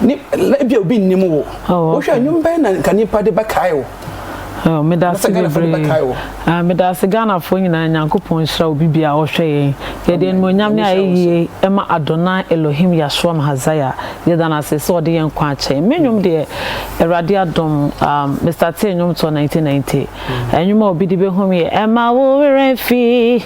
ne ebi a obi nnim wo wohwɛ a nnwom bɛn na nka nnipa de bɛkae wo meda ase bebree meda ase ghanafoɔ nyinaa nyankopɔn nhyira obi bia a ɔhwɛ yɛn yɛde animonyam ne ayɛyie ɛma adonai elohim yashoam hazaya yɛda no ase sɛ ɔde yɛn nkwa akyɛn me nnwom deɛ awurade adom mr tee nnwom toɔ 1990 ɛnwom a obi de bɛhum yɛ ɛma wo werɛ fi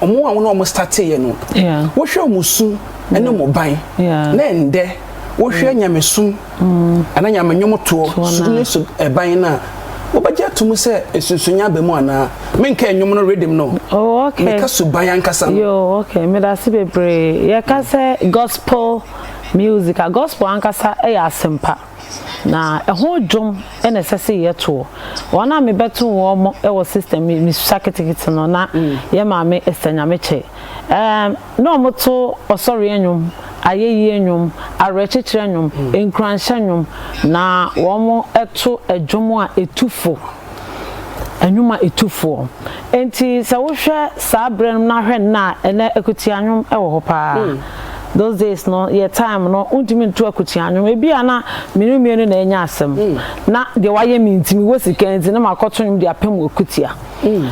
wɔn a wɔn a wɔn startee yɛ no wohwɛ wɔn su ne wɔn ban na ɛndɛ wohwɛ mm. nyamesum mm. ana nyame nwomotoɔ su ne su ɛban no a wobɛgye ato mu sɛ nsunsunya aba mu anaa menka nnwom no rhythm no oh, meka suban ankasa no medase bebree yɛka sɛ gospel music a gospel ankasa yɛ asɛmpa Na ɛho dwom na ɛsɛ sɛ yɛtoɔ. Wɔn a mebɛto wɔn wɔ system me me susa ketekete no na mm. yɛ maame Esther Nyamekyɛ. Um, na wɔn to ɔsɔre nnwom, ayɛyie nnwom, awerɛkyekyerɛ nnwom, mm. nkuranhyɛ nnwom, na wɔn to ɛdwom a ɛtu fo. nnwuma tufoɔ. Enti sɛ wohwɛ saa berɛ no na hwɛ nnɛ a, ɛnnɛ akutia nnwom wɔ hɔ pa ara. Those days no, yɛn time no, wontumi nto akutia nnwom. Ebi a na me ne mmienu na yɛanya asɛm. Na deɛ wayɛ me nti, mewɔ sika nti, na makɔto nnwom de apem akutia.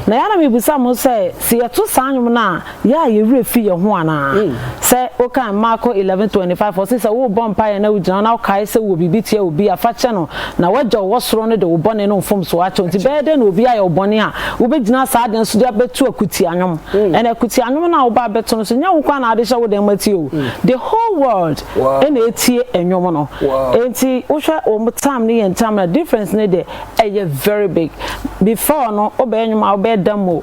Na ɛyɛ a na mebisa mo sɛ, sɛ yɛto saa nnwom no a, Yɛ a yɛn werɛ fi yɛn ho anaa? Sɛ wokan Marko eleven twenty five a, ɔse sɛ worebɔ mpaeɛ na wogyina hɔ na wokae sɛ wowɔ biribi tia obi a, fa kyɛ no, na w'Agya a ɔwɔ soro no de wo bɔne no mfomsoɔ akyɛ wo. Nti bɛyɛ dɛn na obi ayɛ wo bɔne a wobɛgyina saa ade no so de abɛto akutia nnwom? Ɛnna akutia nnwom no a wobɛ abɛto no nso, nyɛ wo nko ara na wode hyɛ wo dan mu atie o, the whole world na ɛretie nnwom no. Nti wohwɛ wɔn time ne yɛn time no a, difference no deɛ, ɛyɛ very big. Before no, wobɛyɛ nnwom a wobɛyɛ dam o.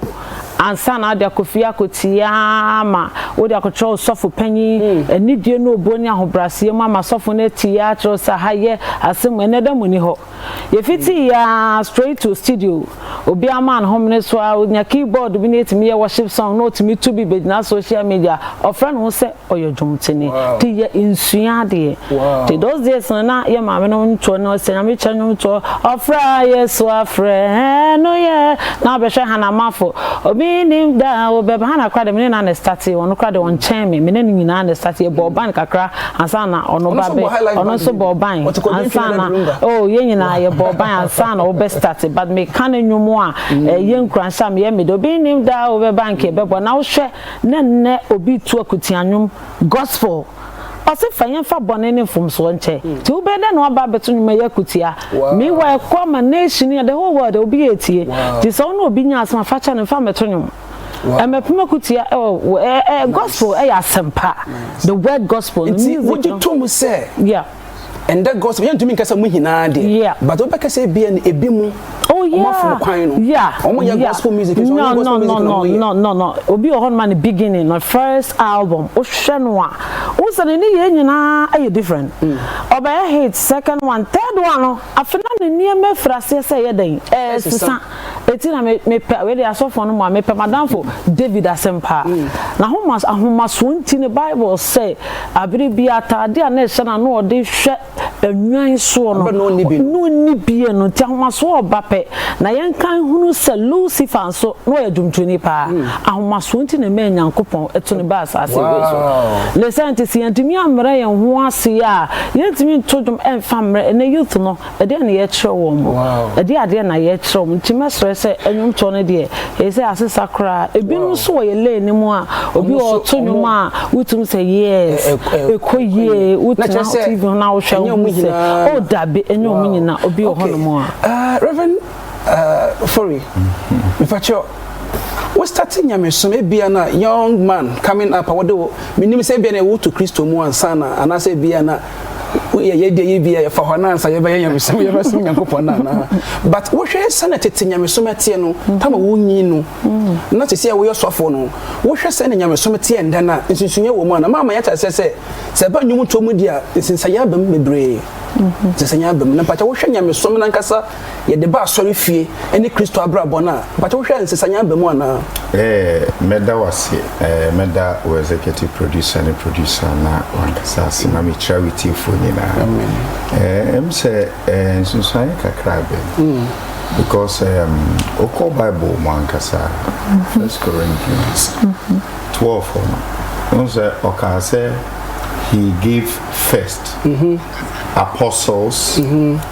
ansa na ade akɔfie akɔtie ara ma wode akɔkyerɛ wo sɔfo panyin. Anidie ne obuo ne ahobrɛaseɛ mu ama sɔfo no atie ara akyerɛ wo sɛ aha yɛ asɛm mu, ɛnnɛ da mu nni hɔ. Yɛfiti yɛ ara straight to studio, obiara maa no homene so ara, ɔnya keyboard bi na yɛtumi yɛ worship song na ɔtumi to bi bɛgyina social media, ɔfrɛ ne ho sɛ. ɔyɛ dwomtoni de yɛ nsua adeɛ nti those days no na yɛ maame no ntoɔ no sɛ nyame kyɛ nwom toɔ ɔfrɛ a yesu afrɛ ɛno yɛ na ɔbɛhwɛ hana mafo obi nim da a wobɛba hana kora de mene na ne starte ɔno kora de ɔnkyɛn me mene no nyinaa ne starte yɛbɔɔ ban kakra ansa na ɔno ba bɛ ɔno nso bɔɔ ban ansa na oh yɛ nyinaa yɛbɔɔ ban ansa na wobɛ starte but meka no nwom a ɛyɛ nkuranhyɛ a meyɛ mede obi nim da a wobɛba nka ɛbɛbɔ na wohwɛ Na nnɛ obi retu akutia nnwom, gospel. Ɔse fa yɛmfa bɔne ne mfomsoɔ nkyɛ. Nti wobɛyɛ dɛn na woaba abɛto nnwom ɛyɛ akutia? Meanwhile ɛkɔ ama nation yi, the whole world, obi retie. Nti sɛ wo ne obi nya asɛm a, fa kyɛ no, mfa mmɛto nnwom. Ɛmmɛpem akutia ɛwɔ, gospel ɛyɛ asɛmpa. The word gospel no, music no. Nti wogye tom sɛ. Yeah. ɛndɛ gɔs yɛn ntumi nkasa mu nyinaa deɛ yeah. but wobɛ kasa ebi ɛn ebi mu oh yeah ɔmo afɔm kwan no yeah ɔmo yɛ yeah. gospel music nso ɔmo gospel music na ɔmo yɛ no no no obi wɔ hɔ no ma ne beginning no first album wohwɛ no a wosɛ ne ne yɛ nyinaa ɛyɛ different ɔbɛyɛ mm. hit second one third one no afei na ne nneɛma efiri aseɛ sɛ ɛyɛ dɛn ɛsesa. eti na me mepɛ wei deɛ asɔfoɔ no mu a mepɛ m'adamfo David asɛm paa na homa ahomasoɔ nti no Bible sɛ abere bi ataadeɛ a na ɛhyɛ no a na ɔde hwɛ nnwan soɔ no na ɔnni bie no nti ahomasoɔ ɔba pɛ na yɛnka nhunu sɛ Lucifer nso na ɔyɛ dwomtoni paa ahomasoɔ nti na ɛmaa Nyankopɔn ɛto no baa asaase wei so ne saa nti sɛ yɛntumi ammrɛ yɛn ho ase a yɛntumi nto dwom ɛmfa mmrɛ ɛnɛ youth no Ɛdeɛn na yɛkyerɛ wɔn? Ɛdeɛn adeɛ na yɛkyerɛ wɔn? Nti mɛsrɛ sɛ nnwomtoɔ no deɛ ɛyɛ sɛ asesa koraa. Ebinom nso wɔ yɛn lane no mu a, obi wɔ hɔ ɔto nnwom a wotumi sɛ yes, ɛkɔ yie, wotena TV ho na wohwɛ a wohu sɛ oh dabi ɛnyɛ wɔn nyinaa, obi wɔ hɔnom a. Rev. Ofori, mepakyɛw, wo starte nyamesom ebia na young man coming up a wɔde wo, menim sɛ ebia na ɛwo to Kristo mu ansa na anaasɛ ebia na yɛ yɛdeɛ yi bi a yɛfa hɔ anaa sɛ yɛbɛyɛ nyamesom yɛbɛsom nyankopɔn no anaa but wohwɛ sɛ na tete nyamesom ɛteɛ no tama wonyi no na sisi a woyɛ sɔfoɔ no wohwɛ sɛ na nyamesom teɛ ndɛ no a nsunsunyɛ wɔ mu ana maama yɛte aseɛ sɛ sɛ ɛba nnwom toɔ mu di a nsinsanyɛ aba mu bebree nsinsanyɛ aba mu na mpakyɛ wohwɛ nyamesom no ankasa yɛde ba asɔrefie ne Kristo abrabɔ no a, mpakyɛ wohwɛ a nsesaeɛ aba mu anaa? Ɛɛ, mɛda wo ase. Ɛɛ, mɛda wo executive producer ne producer na wankasa ase na mekyira wo tiefoɔ nyinaa. Ɛɛ, ɛm sɛ ɛɛ nsunsuanyeɛ kakra bɛn. Mm. Because um, wokɔ Bible mu ankasa, mm-hmm. First Corinthians mm-hmm. twelve no, wohu sɛ ɔkaa sɛ he gave first mm-hmm. apostles.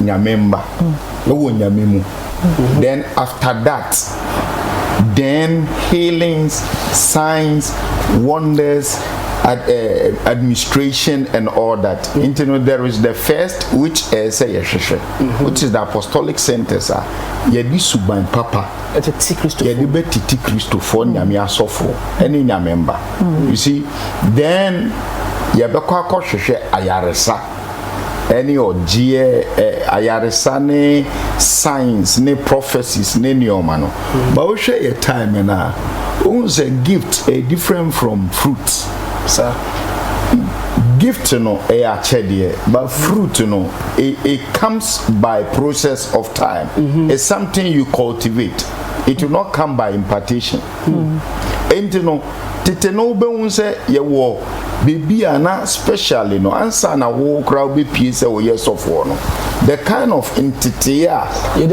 nyame mma ɛwɔ nyame mu then after that then healings signs wonders ad, uh, administration and all that nti no there is the first which ɛyɛ eh, sɛ yɛhwehwɛ mm-hmm. which is the apostolic centers a yɛde suban papa yɛde bɛtete kristofoɔ mm. nyame asɔfoɔ ɛne nyame mba mm. you see then yɛbɛkɔ akɔhwehwɛ ayaresa ne ɔgyeɛ, ɛ, ayaresa ne signs ne prophecies ne nneɛma no. Ba wohwɛ yɛ time no a, wohu sɛ gift ɛyɛ different from fruit. Sa. Gift no ɛyɛ akyɛdeɛ, but fruit no it, it comes by process of time. Mm -hmm. It's something you cultivate. It will not come by impartation. Hmm. Enti no, tete no wobɛhu sɛ yɛwɔ baabi a na specially no ansa na wo koraa wobɛpie sɛ woyɛ sɔfoɔ no the kind of ntetee a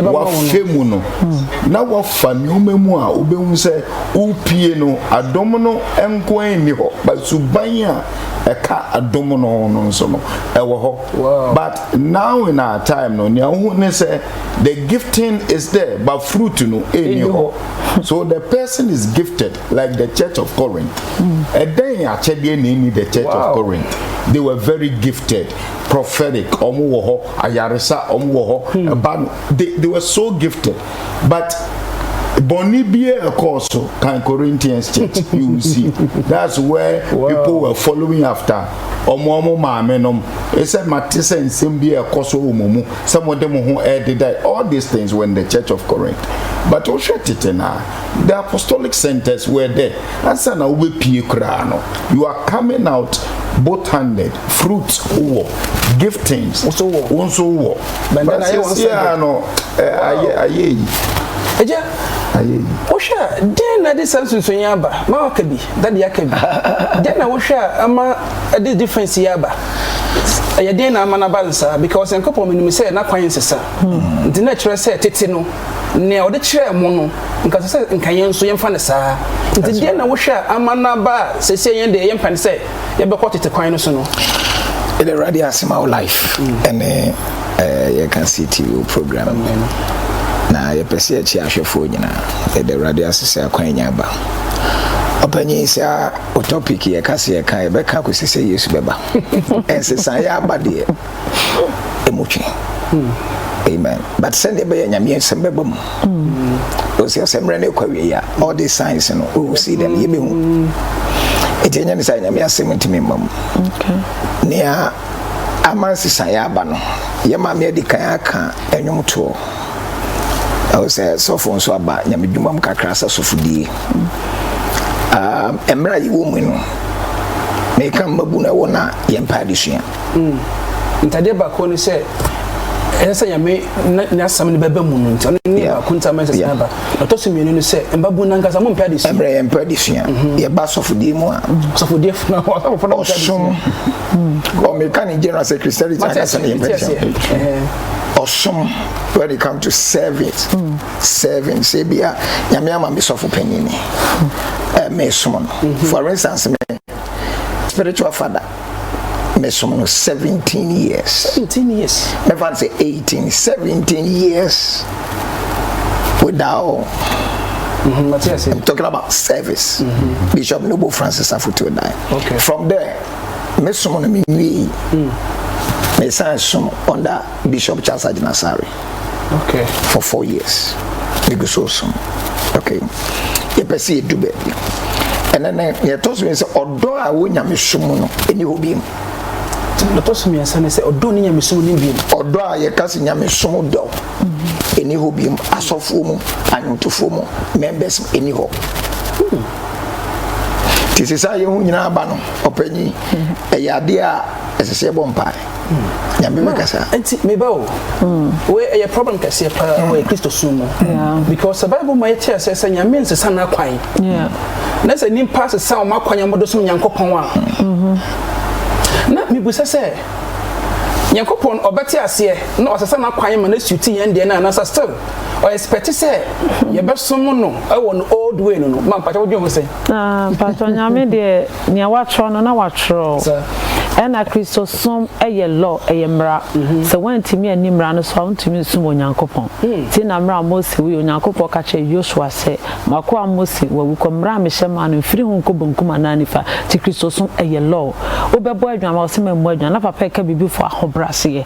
wafɛ mu no hmm. na wafa nneɛma mu a wobɛhu sɛ wopie no adom no nko nni hɔ but suban a ɛka adom no ho no nso no ɛwɔ hɔ but now in our time no nea wohu ne sɛ the gifting is there but fruit no ɛnni hɔ so the person is gifted like the church of corinth ɛdɛn mm. akyɛdeɛ na ɛni the church wow. of corinth they were very gifted prophetic ɔmo wɔ hɔ ayaresa ɔmo wɔ hɔ hmm. ɛba no they they were so gifted but bɔnni biara ɛkɔɔ so kan corinthians church you will see that's where wow. people were following after ɔmo ɔmo maame nom ɛsɛ mate sɛ nsɛm bi ɛkɔ so wɔ mo mu sɛ mode mo ho rededa all these things were in the church of corinth but wohwɛ tete no a the apostolic centers were there ansa na wobɛpie koraa no you are coming out both handed fruit wowɔ giftings wo nso wowɔ bɛsɛsiaa no ayɛ yi wohwɛ a dɛn na de saa nsunsuni aba ma waka bi Daddy aka bi. Dɛn na wohwɛ a ama this difference yi aba? Ɛyɛ dɛn na ama no aba no saa? Because Nyankopɔn menim sɛ n'akwan nsesa. Nti na ɛkyerɛ sɛ tete no, nea ɔde kyerɛɛ mo no, nka ɛsɛ sɛ nka yɛn nso yɛmfa no saa. Nti dɛn na wohwɛ a ama no aba a seesei yɛn deɛ yɛmpɛ no sɛ yɛbɛkɔ tete kwan no so no? Yɛde Awurade ase ma wo life ɛne eh, yɛka CTV program na yɛpɛ sɛ yɛkye ahwɛfoɔ nyinaa. Yɛde Awurade ase sɛ akwan nya aba. Ɔpanyin saa o topic yɛ ka se yɛ ka yɛ bɛ ka kɔsi sɛ Yesu bɛba. Ɛnsesa yɛ aba deɛ ɛmu twe. Amen. But sɛdeɛ bɛyɛ nyame asɛm bɛba mu. Ɔsi sɛ mmerɛ no ɛkɔ awie ya all these signs no we will see them yɛbɛhu. Ɛti ɛnyɛ ne sɛ nyame asɛm ntumi mma mu. Nea ama nsesa yɛ aba no yɛ maame adi kan aka ɛnwom toɔ. Ɛwɔ sɛ sɔfo nso aba nyame dwuma mu kakra sɛ sɔfodie. Uh, mmerɛ a yɛwɔ mu no, meka mmabu no ɛwɔ na yɛmpa adesua. Mm. Ntadeɛ baako ne sɛ ɛsɛ sɛ nyame n'asɛm no bɛba mu no nti ɔno ne baako nti ama ɛsɛ sɛ aba ɔtɔ so mmienu no sɛ mbabu no ankasa mompɛ ade sua ɛmmerɛ yɛmpɛ ade sua mhm. yɛba sɔfodeɛ mu a sɔfodeɛ ɔsom ɔmeka ne general sɛ christianity ankasa ne yɛmpɛ ade sua ɔsom where they come to serve it mm. serving sɛ bia nyame ama me sɔfo panyin ni eh, mesom no mm-hmm. for instance me spiritual father mesom no 17 years 17 years mɛfa sɛ 18 17 years without Mm-hmm. I'm talking about service. Mm-hmm. Bishop Noble Francis Afutuodai. Okay. From there, me som no me nwie yi mm. me san som under bishop charles agyinasare okay. for four years me gu so som okay yɛpɛ sɛ yɛdu baabi ɛnɛ nɛ yɛtɔ so sɛ ɔdɔ a wɔ nyame som mu no ɛni hɔ biom ɛtɔ so mmiɛnsa ne sɛ ɔdɔ ne nyame som ne biom ɔdɔ a yɛka sɛ nyame som dɔ ɛni hɔ biom asɔfoɔ mu anwontofoɔ mu members ɛni hɔ nti ɛsɛ sɛ ayɛ ho nyinaa ba no ɔpanyin ɛyɛ adeɛ a ɛsɛ sɛ ɛbɔ mpae nyame bɛkasa nti meba o wei ɛyɛ problem kɛseɛ paa wɔ mm. kristo so mu because the bible ma yɛte asɛ sɛ nyame nsesa no akwan na sɛ nnipa sesa wɔn akwan a wɔde som nyankopɔn a mm-hmm. na mebisa sɛ nyankopɔn ɔbɛte aseɛ na ɔsesa no akwan ma no asuti yɛn deɛ no anasa still ɔ expect sɛ yɛbɛsom no wɔ no old way no no ma mpakyɛ wodwen ho sɛ ah, mpakyɛ nyame deɛ nea watwerɛ no na watwerɛ ɛna kristosom yɛ law ɛyɛ mmara mhm. sɛ woantumi anni mmara no so a wontumi nsom onyankopɔn hmm. nti na mmara mose wui onyankopɔn ka kyerɛ yosua sɛ makoa mose wawu kɔ mmara a mehyɛ maa no mfiri ho nkɔ benkum anaa nifa nti kristosom ɛyɛ law wobɛbɔ adwan ma wɔsɛ mammu adwan na papa ɛka biribi fo ahobrɛaseɛ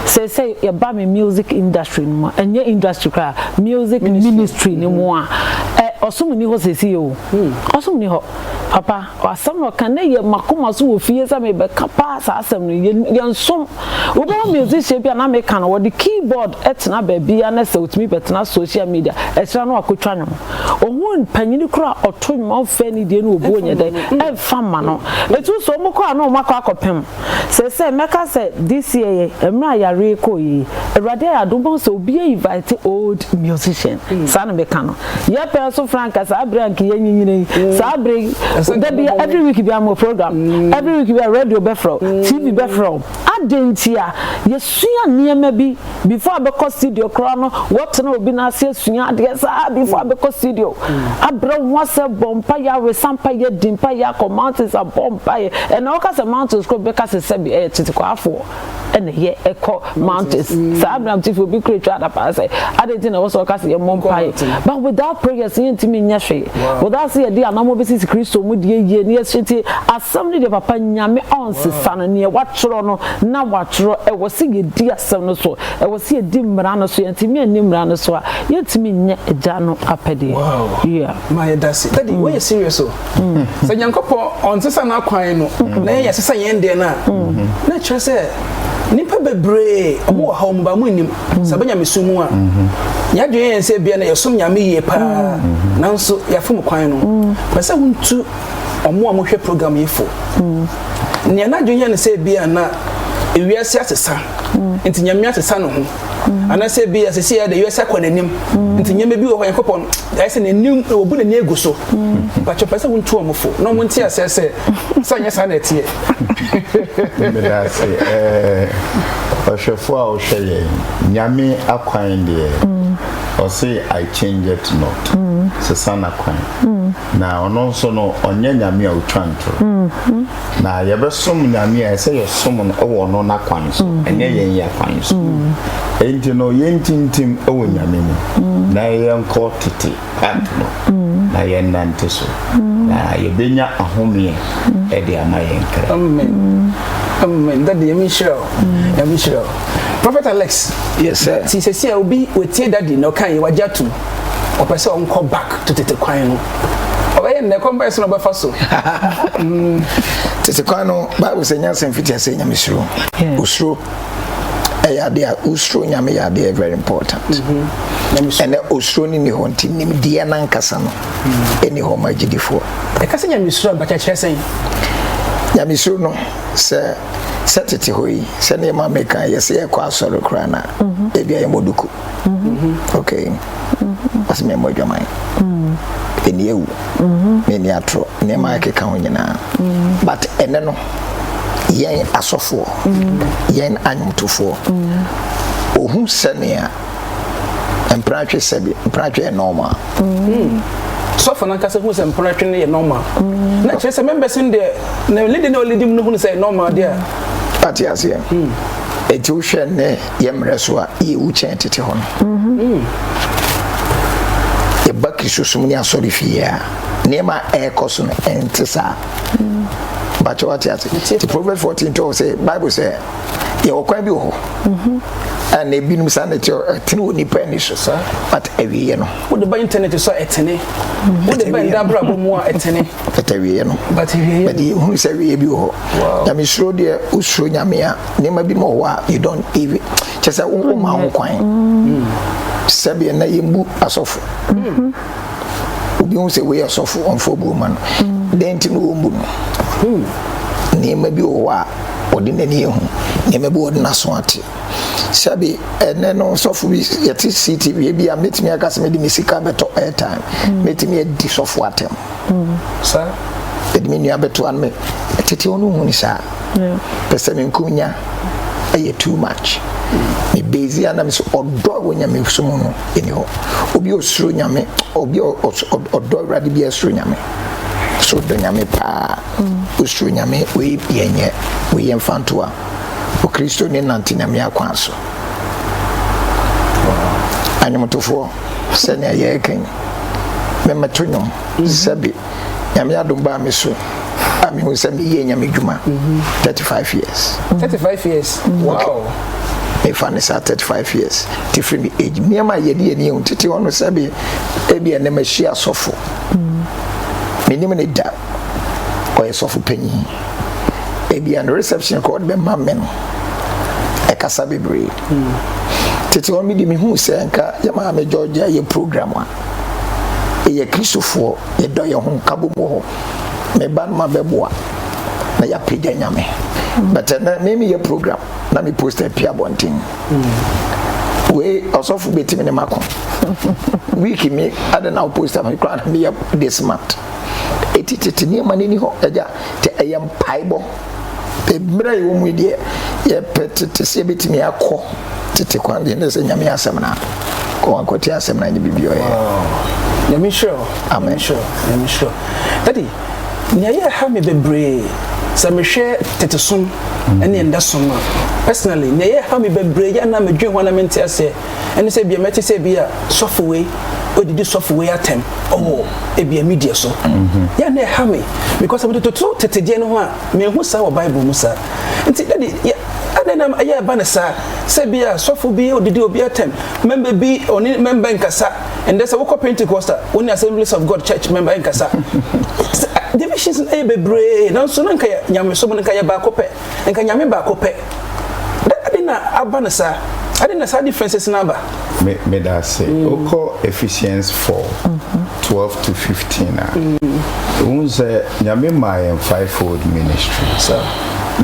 Seesei yɛba me music industry no mu a, ɛnyɛ industry koraa, music ministry no mu a, ɛ, ɔsom nni hɔ seesei o. Ɔsom nni hɔ. Papa, asɛm na ɔka, na ɛyɛ m'akoma so wɔ fie sɛ merebɛka paa saa asɛm no. Yɛ, yɛnsom. Wobɛhu musician bi a na meka no, ɔde key board tena baabiara na sɛ otumi bɛtena social media, akyiri no wakɔtwa nnwom. Ɔhu panyin koraa a ɔto nnwom a ɔmfa anidie ne obu nyɛ dɛ mfa mma no. Ɛtumi so wɔkɔ a na wɔakɔ akɔpem. Sɛsɛɛ mɛka sɛ this year yɛ mmerɛ a yareɛ kɔɔ yie yi awurade ayɛ adom mahu sɛ obiaa invite old musician saa na meka no yɛ pɛɛ so franka saa berɛ a nka yɛ nyinyina yi saa berɛ yi da bia every week bia mo program every week bia radio bɛfrɛ wo TV bɛfrɛ wo adɛn ntia yɛsua nneɛma bi before abɛkɔ studio koraa no wɔtena obi n'ase asua adeɛ saa before abɛkɔ studio abrɛ ho asɛ bɔ mpa yɛ awesa mpa yɛ di mpa yɛ akɔ mountains abɔ mpa yɛ ɛna wɔka sɛ mountains kɔ bɛka sɛ sɛbi ɛyɛ tetekwafoɔ ɛna yɛ ɛkɔ mountains saa abram tifi obi kura twa adapaa sɛ adeɛ ti na ɛwɔ sɛ wɔka sɛ yɛ mmɔ mpa yɛ but without prayers yɛn ntumi nyɛ hwee without sɛ yɛde anamɔ bi sisi kristo mu deɛ yie ne yɛsɛ ti asɛm ne deɛ papa nyame ɔnsesa no neɛ watwerɛ no na wɔatwerɛ, ɛwɔ sɛ yɛdi asɛm no so, ɛwɔ sɛ yɛdi mmara no so, yɛntumi anni mmara no so a, yɛntumi nyɛ agya no apɛdeɛ. Wow. Yeah. Ma yɛda se. Daddy, mm. wɔyɛ serious o. Mm. Sɛ Nyankopɔn ɔnsesa n'akwan no, mm. na yɛyɛ sesa yɛn deɛ no a, mm-hmm. na kyerɛ sɛ nipa bebree ɔmo wɔ ha ɔmo ba mo nim mm. sɛ bɛnya mesu mu a mm-hmm. yɛadwene yɛn sɛ bia na yɛsom nyame yie paa mm-hmm. nanso yɛafom kwan no pɛ sɛ wontu wɔn a wɔhwɛ program yi fo mm. nea n'adwene yɛ no sɛ ebi a na ewiase asesa mm. nti nyame asesa ne ho mm. anaasɛ ebi a sisi yɛ de ewiase akɔ n'anim nti nyame bi wɔ hɔ yankopɔ no ayɛ sɛ n'anim obu n'ani egu so bàtɛ pɛ sɛ wɔn tu wɔn fo na wɔn ti asɛ sɛ sɛ nyɛ saa na ɛteɛ. mmeda ase ɛɛ ɔhwɛfo a ɔhwɛ yɛn nyame akwan deɛ ɔse i change it not sesa n'akwan. na ɔno nso no ɔnyɛ nyame a ɔtwa ntorɔ mm-hmm. na yɛbɛsom nyame a ɛsɛ yɛsom no wɔ ɔno n'akwan so mm-hmm. ɛnyɛ yɛn yɛ akwan so mm-hmm. enti no yɛntintim wɔ nyame mu na yɛnkɔ tete part no na yɛnnante so na yɛbɛnya ahomeɛ ɛde ama yɛn kra dade yɛmi nhyira o yɛmi nhyira o prophet alex yes sir ti sɛ sɛ obi wɔtie dade na ɔka yɛ wagye atom ɔpɛ sɛ ɔnkɔ back to tete kwan no ɔbɛyɛ nnɛ kwan bɛyɛ sɛ na ɔbɛfa so tete kwan no bible sɛ nyansa mfiti asɛ nyame suro osuro ɛyɛ adeɛ a osuro nyame yɛ adeɛ very important ɛnɛ osuro ne ne hɔ nti nimdeɛ no ankasa no ɛni hɔ ma agyidifoɔ ɛka sɛ nyame suro abakyɛkyerɛ sɛn nyame suro no sɛ sɛ tete hɔ yi sɛ ne ɛma meka yɛ sɛ yɛkɔ asɔre koraa no a ɛbia yɛmmɔ duku ok ɔsɛ mɛ mmɔ adwaman ɛni mm. awu mɛni mm-hmm. atorɔ nneɛma ɛkeka ho nyinaa mm. but ɛnɛ no yɛn asɔfoɔ mm. yɛn anwomtofoɔ ɔhu sɛnea mpratwe sɛbi mpratwe yɛ normal sɔfo nankasa hu sɛ mpratwe no yɛ normal na kyerɛ sɛ membɛse no deɛ na lidi na ɔlidi mu no hunu sɛ normal deɛ a ate aseɛ ɛti wohwɛ nnɛ yɛ mmerɛ so a yɛwu kyɛn tete hɔ no. Mm-hmm. Yɛba Kristosom ne asɔre fie a, nneɛma a ɛrekɔ so no ɛnte saa. Mm-hmm. Bakyɛ wate ase. Nti Proverbs 14 tɔɔ sɛ Bible sɛ yɛwɔ kwan bi wɔ hɔ. Mm-hmm. Ɛna ebinom saa na ɛte ɛtene wɔ nipa ani so. But awieɛ no. Wode ba internet so ɛtene. Wode ba nda abrabɔ mu a ɛtene. But awieɛ no. But awieɛ no. But yɛhunu sɛ awieɛ bi wɔ hɔ. Nyame suro deɛ wosuro nyame a. nneɛma bi ma ɔwɔ a you don't even kyɛ sɛ wo ma ho kwan mm. sɛbi na yɛmbu asɔfo mm-hmm. obi hu sɛ wei asɔfo ɔmfo bu ma no mm. dɛn nti na wɔmbu no hmm. nneɛma bi wɔ hɔ a ɔde n'ani ehu nneɛma bi ɔde n'aso ate sɛbi ɛnɛ no sɔfo bi yɛte ctv ebi a mɛtumi aka sɛ mede me sika bɛtɔ airtime hmm. mɛtumi adi sɔfo atɛm hmm. saa ɛde me nua bɛto ano me tete ɔno hu ne saa pɛsɛmenko nya ɛyɛ too much me base a na me sɛ ɔdɔ a wɔ nyame so mu no ɛni hɔ obi ɔsoro nyame obi ɔdɔ awurade bi ɛsoro nyame so ɔdɔ nyame paa ɔsoro mm. nyame wei yɛnyɛ wei yɛmfa ntoa okristo ne nante nyame akwan so anwomtofoɔ sɛnea yɛreka yi mɛmɛto nwom mm-hmm. sɛbe nyame adom baa me so a mehu sɛ meyɛ nyame dwuma 35 mhm. years 35 years mhm. wow mefa ne saa 35 years te firi me age nneɛma a yɛde yɛni ɛhu tete hɔ no sɛ bi ebi ɛnɛ mahyia asɔfo mhm. menim ne da ɔyɛ sɔfo panyin ebi ɛnɛ reception kɔ ɔde bɛma me no ɛkasa bebree tete hɔ no mede mehu sɛ nka yɛ maame georgia yɛ program a Yɛyɛ Kristofoɔ, yɛdɔ yɛn ho, nkabom wɔ hɔ. Me ba no ma bɛboa na yɛapagya Nyame. But ɛnɛ me meyɛ program na me post apia abɔnten. Wei ɔsɔfo bɛtumi ne mako. Week me adɛ na wo post me koraa na meyɛ this month. Ɛti tete nneɛma no ni hɔ agya, te ɛyɛ mpaebɔ. Mmerɛ a yɛwɔ mu yi deɛ yɛpɛ tete sɛ yɛbɛtumi akɔ tete kwan deɛ ne sɛ nyame asɛm no kɔ wankɔte asɛm no anyɛ biribi ɔyɛ nyame hyerɛ amen nyame hyerɛ ɛde nea yɛ ha me bebree sɛ mehwɛ tete som ɛne ɛnda som a personally nea yɛ ha me bebree yɛ na medwen ho na mente aseɛ ɛne sɛ ebia mɛte sɛ ebia sɔfo wei odidi sɔfo wei atɛm ɔwɔ ebia media so mhm. yɛ na ɛha me because mede toto tete deɛ no ho a mehu saa wɔ bible mu saa nti dade ɛdɛ nam ɛyɛ ɛba no saa sɛ bi a sɔfo bi odidi obi atɛm mɛmba bi ɔne mɛmba nkasa ɛndɛ sɛ wokɔ pentecost a wo ne assemblies of god church mɛmba nkasa divisions ɛyɛ bebree nanso na nka nyamesom no nka yɛ baako pɛ nka nyame baako pɛ dɛ adɛn na aba no saa adɛn na saa differences no aba. Me meda ase mm. wokɔ Ephesians 4 mm-hmm. 12 to 15 a wohu mm. sɛ nyame maa yɛn fivefold ministry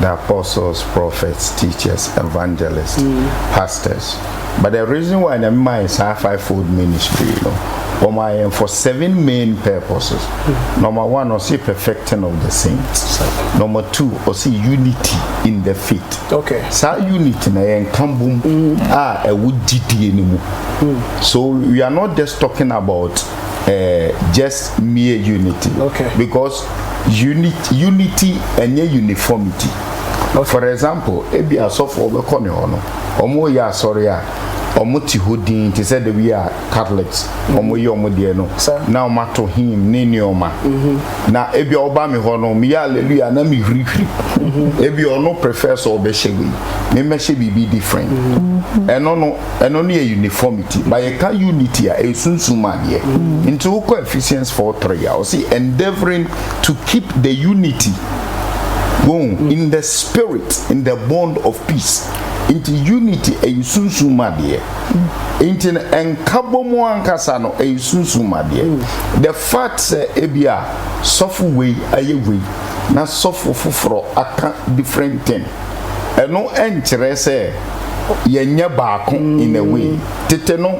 the apostles prophets teachers evangelists mm. pastors but the reason why nyame maa yɛn saa five fold ministry no wɔmaa yɛn for seven main purposes mm. number one ɔse perfecting of the saints number two ɔse unity in the faith okay. saa unity na yɛnka bom mm. a ɛwɔ gyidie no mu mm. so we are not just talking about uh, just mere unity okay. because unity, unity ɛnyɛ uniformity okay. for example ebi asɔfo ɔbɛkɔ ne hɔ no Wɔyɛ asɔre a wɔte hɔ dinn te sɛ da bi a Catholics wɔyɛ wɔn deɛ no na wɔato hymn ne nneɛma. Na ebia wɔba me hɔ no meyɛ hallelujah na mehwirihwiri. Ebia ɔno prefer sɛ ɔbɛhyɛ wei me mmɛhyɛ biribi different. Ɛno no ɛno no yɛ uniformity but yɛka unity a ɛyɛ sunsum mu adeɛ. Nti wokɔ Ephesians four three a ɔse endeavouring to keep the unity Wohu? Mm. In the spirit, in the bond of peace. Nti unity ɛyɛ sunsun mu adeɛ. Mm. Nti no nkabɔ mu ankasa no ɛyɛ sunsun mu adeɛ. Mm. The fact sɛ ebi a sɔfo wei ayɛ wei na sɔfo foforɔ aka different thing. Ɛno ɛnkyerɛ sɛ yɛnyɛ baako in a way. Tete no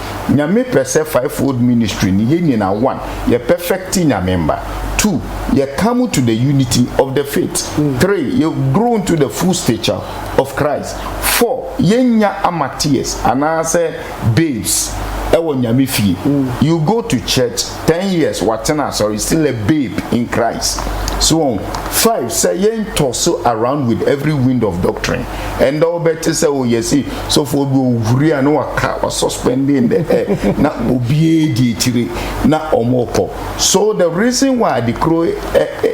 Nyame pɛ sɛ five fold ministry no yɛ nyina one yɛ perfect Nyame mba two yɛ come into the unity of the faith three yɛ grow into the full stature of Christ four yɛ nya amateurs anaa sɛ babes ɛwɔ Nyame fie you go to church ten years watena asɔre still a babe in Christ so wɔn five sɛ yɛn tɔ so around with every wind of doctrine ɛnda wɔbɛte sɛ o yɛsi sɔfoɔ bi owuri a na waka wa suspending in the air na obiara di akyire na wɔn kɔ so the reason why the kuro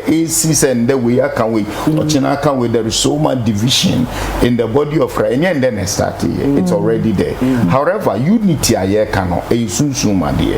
esi sɛ ndɛ wei aka wei ɔkyena aka wei there is so much division in the body of Christ ɛnyɛ ndɛ na ɛstart yɛ it's already there however unity a yɛka no ɛyɛ sunsun ma deɛ.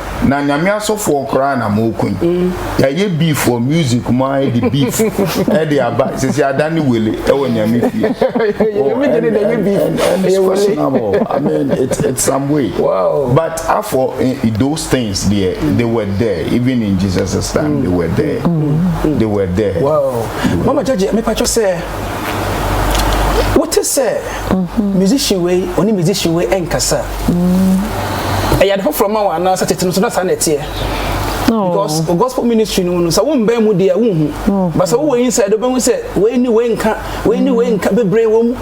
Na nyame asɔfoɔ koraa na mo ko yi yɛayɛ beef wɔ music mu ara de beef ɛde aba sisi ada ne wele ɛwɔ nyame fie I mean it's, it's some way wow. but afɔ eh, those things there they were there even in Jesus' time mm. they were there mm. mm. they were there wow. They were mama judge me pacho say wote sɛ musician wei ɔne musician wei ɛnkasa ɛyɛ ade foforɔ ma wɔn anaasɛ tete no so na saa na ɛteɛ because oh. gospel ministry no mu no sɛ wo mbɛn mu deɛ wonhu oh. but sɛ wowɔ inside wobɛhu sɛ wei ne wei nka wei ne wei nka bebree wɔ mu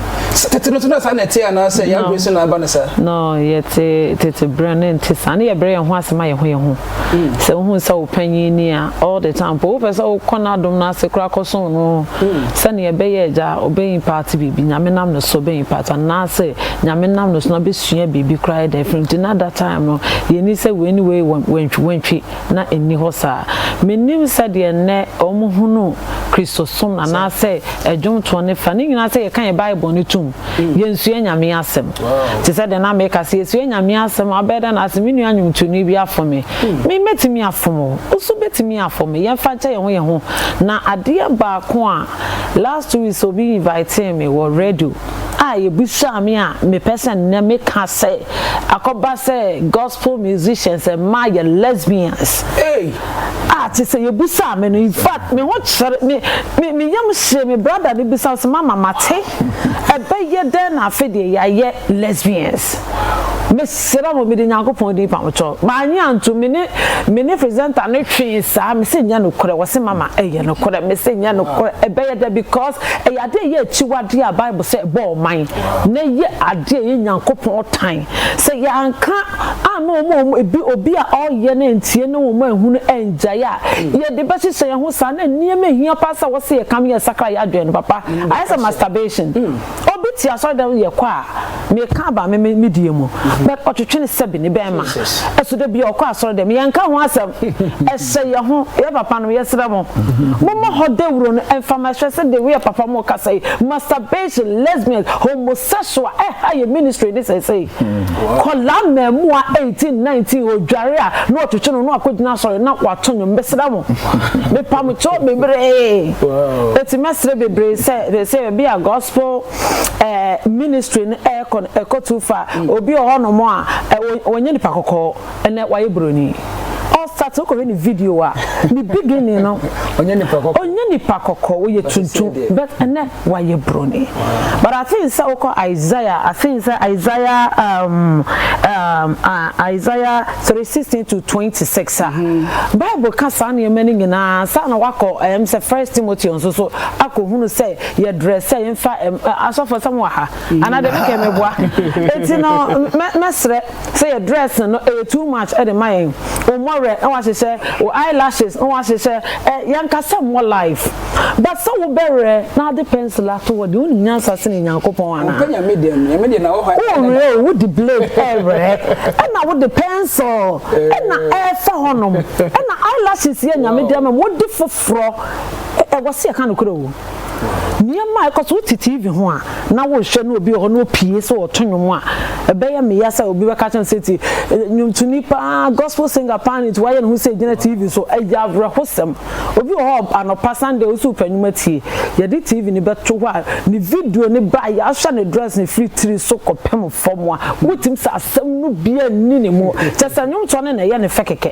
tete no so na saa na ɛteɛ anaasɛ yɛabrɛ so na aba no saa no yɛte tete berɛ no nte saa ne yɛbrɛ yɛn ho ase ma yɛn ho yɛn ho Sɛ wohu sɛ wo panyin ni a, all the time mpo wopɛ sɛ wokɔ n'adom no ase koraa kɔsom no sɛnea ɛbɛyɛ a agya ɔbɛ impart biribi, Nyame nam ne so ɔbɛ impart anaasɛ Nyame nam ne so na ɔbɛsua biribi koraa ayɛ dɛn afiri no nti na that time no yɛnni sɛ wei ne wei wantwiwantwi na ɛnni hɔ saa. Mennim sɛdeɛ nnɛ wɔn hunu Kristosom anaasɛ ɛdwomtoɔ ne fa ne nyinaa sɛ yɛka yɛn Bible no tom, yɛnsua Nyame asɛm. Te sɛ deɛ na meka sɛ yɛsua Nyame asɛm abɛyɛ dɛ na ase me nua nnwomtoni bi afom me. Hmm. Me mɛtumi afom o, woso bɛtumi afom me, yɛmfa nkyɛ yɛn ho yɛn ho. Na adeɛ baako a last two weeks obi invitee me wɔ radio a yɛbisaa me a mepɛ sɛ nnɛ meka sɛ akɔba sɛ gospel musicians ɛma yɛ lesbians. Hey. A te sɛ yɛbisaa me no in fact me ho kyerɛ me me me yam hyee me brada no bisa sɛ mama mate. Ɛbɛyɛ dɛn na afei deɛ yɛayɛ lesbians? Mesrɛ mo, mede Nyankopɔn din pa mo kyɛw. Mannye antom, me ne, me ne presenter no twee saa, mese ɛnyɛ nokorɛ, wɔse mama ɛyɛ nokorɛ, mese ɛnyɛ nokorɛ, ɛbɛyɛ dɛn because ɛyɛ adeɛ a ɛyɛ akyiwadeɛ a Bible sɛ ɛbɔ ɔman, na ɛyɛ adeɛ a ɛyɛ Nyankopɔn tan. Sɛ yɛanka anna wɔn a wɔn, ebi, obi a ɔreyɛ na antie na wɔn anhunu angyae a, yɛde bɛhyehyɛ yɛn ho saa, na nneɛma a ɛhia paa sɛ wɔse yɛka no yɛsakra yɛn adwene no, papa, ayɛ sɛ masturbation obi te asɔredan yɛ kɔ a meka aba me me die mu mm-hmm. but ɔtwetwe ne sɛbi ne bɛn ma ɛso da bi ɔkɔ asɔredan yɛn ka ho asɛm ɛhyɛ yɛ ho yɛ papa no yɛsrɛ mo mm-hmm. mo mo hɔ dawuro no ɛnfa ma ɛhyɛ sɛ de woyɛ papa mo kasa yi masturbation lesbian homosexual ɛha yɛ ministry de sɛsɛ mm-hmm. kɔla mɛmua eighteen nineteen odware a na ɔtwetwe no na ɔkɔ gyina asɔre na wato nyom bɛsrɛ mo mepamokyɛw bebree Eti mɛsrɛ bebree sɛ sɛ ebi a gospel ɛɛ ministry no ɛɛkɔ no ɛkɔ too far. Mm. Obi wɔ hɔnom a ɛwɔ wɔnyɛ nipa kɔkɔɔ ɛnɛ wayɛ buroni. Ɔsat wokɔhwɛ ne video a ne beginning no ɔnyɛ nipa kɔkɔɔ ɔnyɛ nipa kɔkɔɔ wɔyɛ tuntum but ɛnɛ wayɛ buroni. But I think sɛ wokɔ Isaiah I think sɛ Isaiah um, um, uh, Isaiah three sixteen to twenty six a bible ka saa nneɛma no nyinaa ansa na wakɔ ɛm sɛ first timothy nso so akɔhunu sɛ yɛdrɛ sɛ yɛmfa ɛm ɛ, asɔfo sɛ mo wɔ ha anaa deɛ mekɛ meboa eti no mɛ mɛsrɛ sɛ yɛ dress no ɛyɛ too much ɛde ma yɛn wo mmɔwerɛ na wahyehyɛ wo eyelashes na wahyehyɛ ɛ yɛnkasa mmɔ live But sɛ wobɛwerɛ na wode pencil ato hɔ deɛ wonim nyansa sene Nyankopɔn anaa? Ɔmpɛ Nyame deɛ no, Nyame deɛ na wɔ hɔ ayɛ dada. Wowerɛ o, wode blade ɛrewerɛ, ɛna wode pencil ɛna ɛrefa hɔnom, ɛna eyelashes yɛ Nyame deɛ ama mu, wode foforɔ, ɛwɔ sɛ yɛka nokorɛ o. Nneɛma a ɛkɔ so, wote TV ho a na worehwɛ na obi wɔ hɔ na opie sɛ ɔreto nnwom a, ɛbɛyɛ me ya sɛ obi bɛka akyerɛ me sɛ tie, nnwomtoni paa, gospel singer paa no nti wayɛ ne ho sɛ ɛgyina TV so, ɛyɛ awerɛhosɛm. Obi wɔ hɔ a anɔpa Sunday wo so wo pɛ nwom atie. Yɛde TV no bɛto hɔ a ne video no ba a yɛahwɛ ne dress no firi tiri so kɔpem fam a wotumi sɛ asɛm no biara nni ne mu. Kyerɛ sɛ nnwomtoɔ no na ɛyɛ ne fɛ kɛkɛ.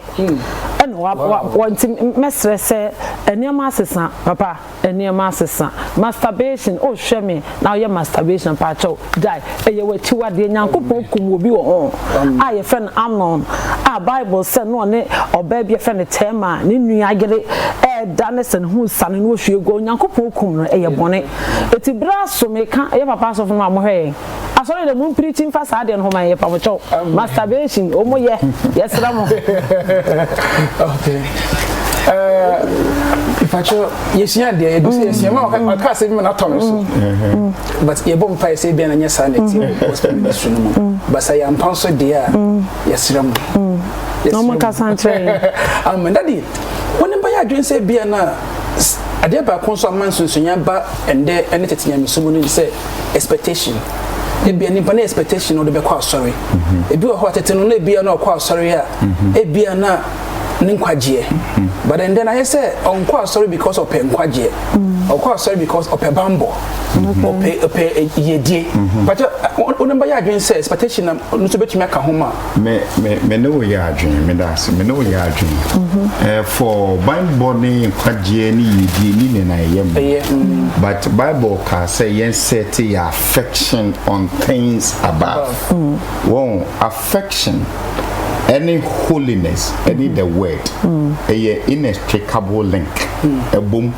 Ɛna wa wa wa nti mɛsrɛ sɛ nneɛma asesa papa nneɛma asesa. Masturbation oh hwɛ me na woyɛ masturbation paakyɛw gyae ɛyɛ w'akyiwadeɛ nyankopɔn kum obi wɔ ho a yɛfrɛ no Amnon a bible sɛ na ɔne ɔbaa bi yɛfrɛ no Tɛma ne nua yere ɛɛda ne sɛ ne ho sane no wɔhwie gua onyankopɔn kum no ɛyɛ bɔne ɛti berɛ aso meka ɛyɛ papa asɔfo no a mohwɛ yɛn asɔre dɛ mompirikyi mfa saa deɛ no ho ma yɛ pamokyɛw masturbation ɔmo yɛ yɛsrɛ mo okay uh, yɛsua adeɛ yɛgu sɛ yɛsua ma ɔka mm. asɛ bi ma no atɔ no so mm. mm-hmm. but yɛbɔ mpae sɛ bia na nyɛ saa na ɛti mm-hmm. su no mu mm-hmm. but sɛ yɛampa nso deɛ a yɛserɛ mu amen dade wone bɛyɛ adwene sɛ bia no a adeɛ baako nso ama nsonsonya ba ɛndɛ ne tete nyamesom no ne sɛ expectation ebia nipa ne expectation na ɔde bɛkɔ asɔre ebi wɔ hɔ a tete no na ebia na ɔkɔ asɔre a ebia na ne nkwagyeɛ mm-hmm. but then then ayɛ sɛ ɔnkɔ asɔre because ɔpɛ nkwagyeɛ mm-hmm. ɔkɔ asɔre because ɔpɛ bambɔ mm-hmm. ɔpɛ ɔpɛ eh, yɛdie bàtɛ ɔno bɛyɛ adwene sɛ expectation na ɔno nso bɛtumi aka ho ma. mɛ mɛ mɛ ne wo yɛ adwene mɛ da ase mɛ ne wo yɛ adwene ɛɛ eh, for bambɔ ne nkwagyeɛ ne yɛdie ne nana ɛyɛ mu ɛyɛ mm. but bible kaa sɛ yɛn sɛ te yɛ affection on things above wɔn mm. Affection ɛne holiness ɛne the word ɛyɛ inextricable link ɛbom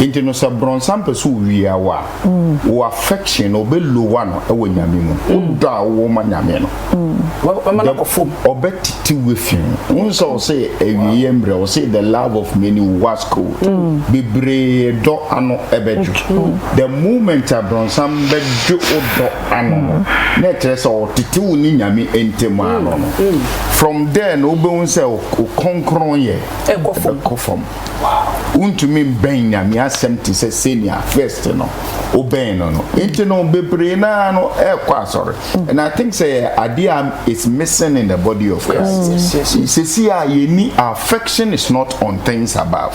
nti no sɛ brɔnsam pɛ sɛ owia wo a wo affection no ɔbɛ lowa no ɛwɔ nyame mu wo dɔ a wowɔ ma nyame no Wama no akɔ fam. ɔbɛ tete wo afi ho wohu sɛ ɔse awieɛ mmerɛ ɔse the love of many will wax cold bebree dɔ ano ɛbɛdwo the moment a brɔnsam bɛdwo wo dɔ ano no na ɛkyerɛ sɛ ɔtete wo ne nyame ntam mm, ano no mm. from there na wobɛhu sɛ ɔkronkron yɛ ɛkɔ fam wontumi mbɛn nyame asɛm te sɛ senia first no wobɛn no no nti no bebree naa no ɛkɔ asɔre mm. and i think sɛ yɛ adeɛ a is missing in the body of christ sɛsi a yɛni affection is not on things above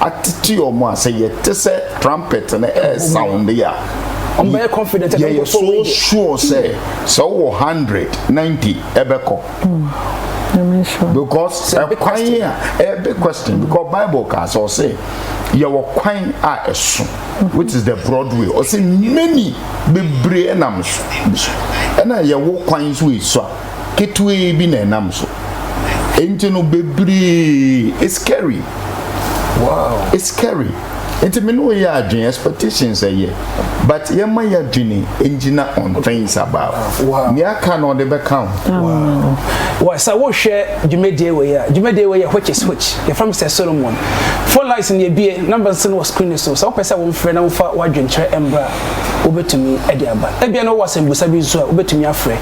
atete wɔn a sɛ yɛte sɛ trumpet no ɛresawonde a yɛyɛ so sure sɛ sɛ wowɔ hundred ninety ɛbɛkɔ hmm. because ɛkwan a ɛyɛ big question because bible kaa sɛ ɔsɛ yɛwɔ kwan a ɛso hmm. which is the broad way ɔsɛ many bebree nam so ɛna yɛwɔ kwan nso ɛso a ketewaa bi na ɛnam so nti no bebree it's scary wow it's scary nti me ne wo yɛ adwene expectations ɛyɛ but yɛma yɛ adwene ngyina on things about wow nea aka na ɔde bɛka ho wow wa sɛ wohwɛ dwumadie wɔ yɛ a dwumadie wɔ yɛ which is which yɛfrɛ m sɛ solomon four lights ne ebie number nso no wɔ screen so sɛ wopɛ sɛ womfrɛ na wofa w'adwenkyerɛ mbra wobɛtumi de aba ebia na wowɔ asɛmbusa bi nso a wobɛtumi afrɛ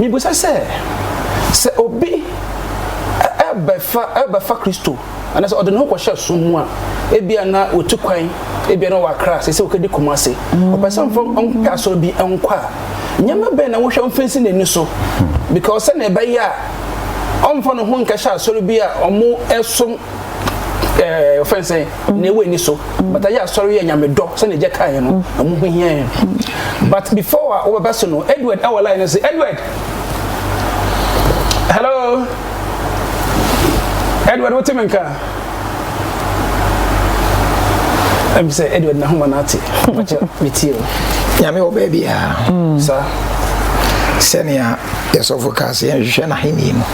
Mibisa sɛ, sɛ obi bɛfa Kristo anaasɛ ɔde ne ho kɔhyɛ som mu a, ebia na otu kwan, ebia na ɔwɔ Accra, seesei okedi Kumasi, ɔpɛ sɛ ɔmfa ɔmpɛ asɔre bi nkɔ a, nneɛma bɛn na wohwɛ mfa nsi n'ani so? Because sɛnea ɛbɛyɛ a ɔmfa ne ho nkɛhyɛ asɔre bi a wɔsom ɛɛ ɔfɛn sɛ mm. na ewu ani so mm. but ayɛ asɔre yɛ nyame dɔ sɛnea gya kaa yɛ no mm. ɛmu ho hia yɛ but before a wɔbɛba so no edward ɛwɔ line no sɛ edward hello edward wote me nka ɛm sɛ edward na homa no ate ɔkyɛ metie o nyame wɔ baabi a saa sɛnea yɛsɔfo kaa sɛ yɛnhwehwɛ n'ahenni no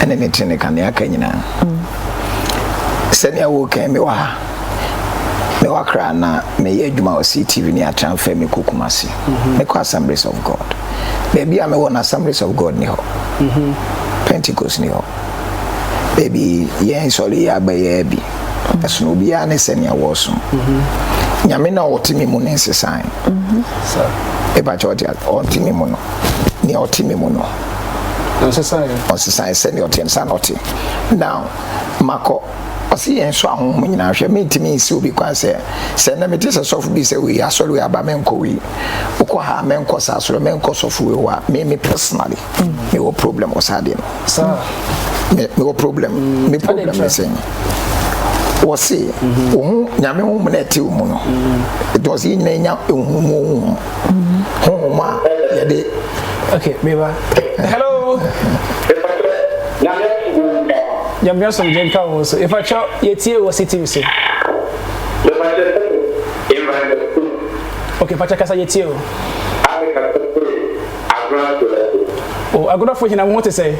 ɛne ne tene kane aka nyinaa sɛnea wokan me wɔ ha me wɔ akra na meyɛ adwuma wɔ ctv ne atra mfɛ me kɔ kuma ase mhm. mekɔ assemblies of god baabi a mewɔ no assemblies of god ni hɔ mhm. pentecost ni hɔ baabi yɛn nsɔre yi abɛyɛ bi mhm. ɛsono obiara ne sɛnea wɔsom nyame na ɔte me mu ne nsesan ɛbakyɛ ɔte me mu no nea ɔte me mu no ɔsesaeɛ sɛdeɛ ɔteɛ no saa na ɔte now makɔ ɔse yɛn so ahonhom nyinaa hwɛ mentumi nsi obi kwan sɛ sɛ nnɛ mete sɛ sɔfo bi sɛ wei asɔre wei aba menkɔ wei wokɔ ha menkɔ saa asɔre menkɔ sɔfo wei hɔ a me me personally mewɔ problem wɔ saa deɛ no mewɔ problem me problem ne sɛ wɔse wo ho nyame ho mu na ɛte wo mu no ɛdɔse yɛ nyina ɛnya ɛhu mu ɔhu ho honhom a yɛde okay meba hello nyamea som gye nka wo so ɛfakyɛ yɛtie wɔ sitiw so okay fakyɛ kasa yɛtie o Agorafo yɛ ɔko. O, agorafo hena ho te sɛn?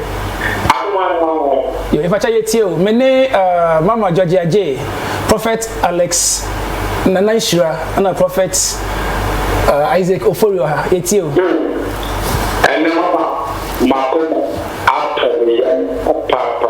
Akomaanoa ho. Yo, yɛfakyɛ yɛtie o. Me ne uh, Mama Georgia J, Prophet Alex Nana Nhyira, ɛna Prophet uh, Isaac Oforio ha. Yɛtie o. Hmm. Ɛnɛ mama, makoma atɔ me yam papaapa.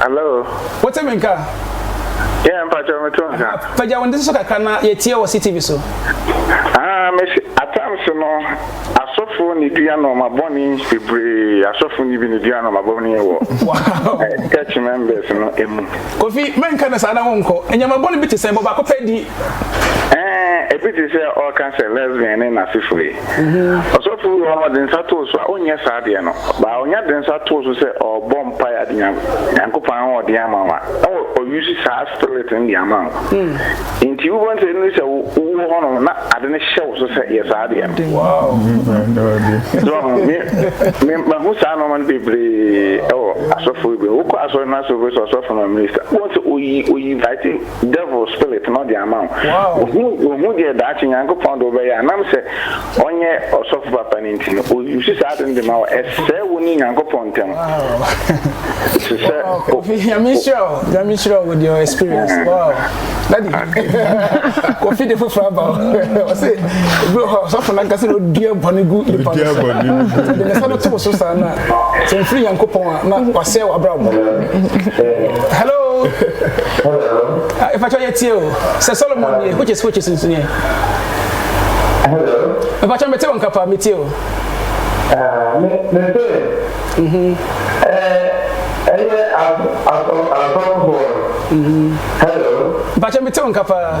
Hello. Wote me nka? Yeah, mpakyɛ me to nka. Pagya wo nde so kakra na yɛtie wɔ CTV so. Ah, me atam so no, asɔfo ne dua nɔɔma bɔne bebree. Asɔfo ne bi ne dua nɔɔma bɔne wɔ eh, church members no emu. Kofi, menka ne saa na wonkɔ. Nneɛma bɔne bi te sɛn bɔ baako pɛ di Ɛɛ, ebi te sɛ ɔreka sɛ lesbian ne n'asefo yi. Ɔsɔfo bi wɔ hɔ a ɔde nsa too so a, ɔnyɛ saa adeɛ no. Baa ɔnya de nsa too so sɛ ɔrebɔ mpaeɛ ade nya Nyankopɔn ahoɔden ama wo a, na ɔuse saa spirit no de ama wo. Enti wobɛhu sɛ ɛnuru sɛ wowɔ hɔ nom na ade no hyɛ wo so sɛ yɛ saa adeɛ no. So ɔho? Me, me, mahu saa nnoɔma no bebree wɔ asɔfoɔ bi. Wokɔ asɔre no ase wobɛhu sɛ ɔsɔfo no ɔyɛ minister. Wobɛhu sɛ oyi, oyi, I think, Devil spirit no de ama wo. Ohu ohu deɛ daakye Nyankopɔn de wobɛyɛ a, nam sɛ ɔnyɛ ɔsɔfo papa no nti no, o use saa ade no de ma wo. Ɛsɛe wo ne Nyankopɔn ntam. Te sɛ o. Nyame nhyira wo, Nyame nhyira wo with your experience. Wow. Daddy, kofi de foforɔ aba o. Ɔse, ebi wɔ hɔ a, ɔsɔfo no ankasa na odua bɔne gu nipa no so. Ɔde ne nsa no to wo so saa na sɛ mfiri nyankopɔn a na wasɛe w'abrabɔ hello ɛfakyɛ yɛtie o sɛ solomon nie which is which is nsunie ɛfakyɛ mete wo nka paa metie o ɛyɛ asɔfoɔ hello ɛfakyɛ mete wo nka paa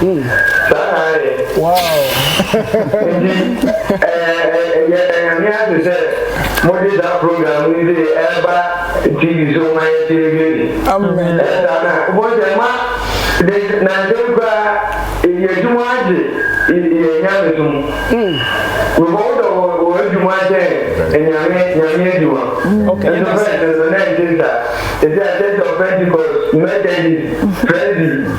Hmm. saa na ayɛ. wow. nti ɛyɛ ɛnyame ase sɛ mode saa program yi de ɛba tv so ma yɛtie wie ni. amen. ɛsa na wobɛhu sɛ ma de nansɛm koraa ɛyɛ adwuma agye yɛ nyame so mu. before wodɔ wɔ wɔ adwuma sɛ nyame nyame adwuma. ɛno fɛ ɛno na ɛnte saa. ɛsɛ asɛ sɛ pentecost methodist frenzy